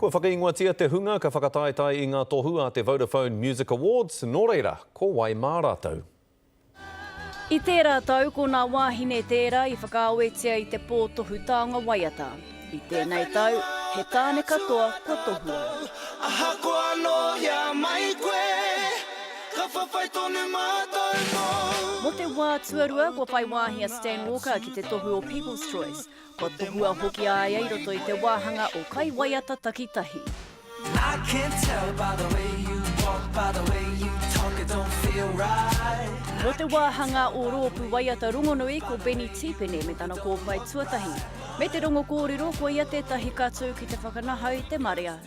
Kua whakaingoatia te hunga ka whakataetae i ngā tohu a te Vodafone Music Awards, nō reira, ko wai mā rātou? I tērā tau, ko nā wāhine tērā i whakaawetia i te pō tohu taonga waiata. I tēnei tau, he tāne katoa kua tohua. Ahakoa anō i a mai koe, ka whawhai tonu mātou mōu. Mō te wā tuarua, kua whai wāhi a Stan Walker ki te tohu o People's Choice. Kua tohua hoki a ia i roto i te wāhanga o Kai Waiata Takitahi. I can tell by the way you walk, by the way you talk, it don't feel right. Mō te wāhanga o Roopu Waiata Rongonui ko Benny Tipene me tana kōpae tuatahi. Me te rongo kōrero, koia tētahi katū ki te whakanahau i te marea.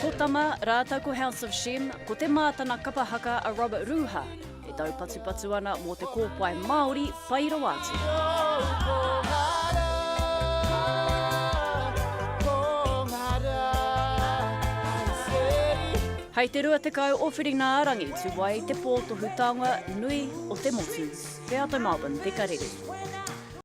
Ko Tama, rātou ko House of Shem, ko Te Mā tana kapa haka a Robert Ruha, e taupatupatu ana mō te kōpae Māori pai rawa atu. Hei te 20 o Whiringa-ā-rangi tu ai te pō tohu taonga nui o te motu. Wheata Melbourne, Peka Rere.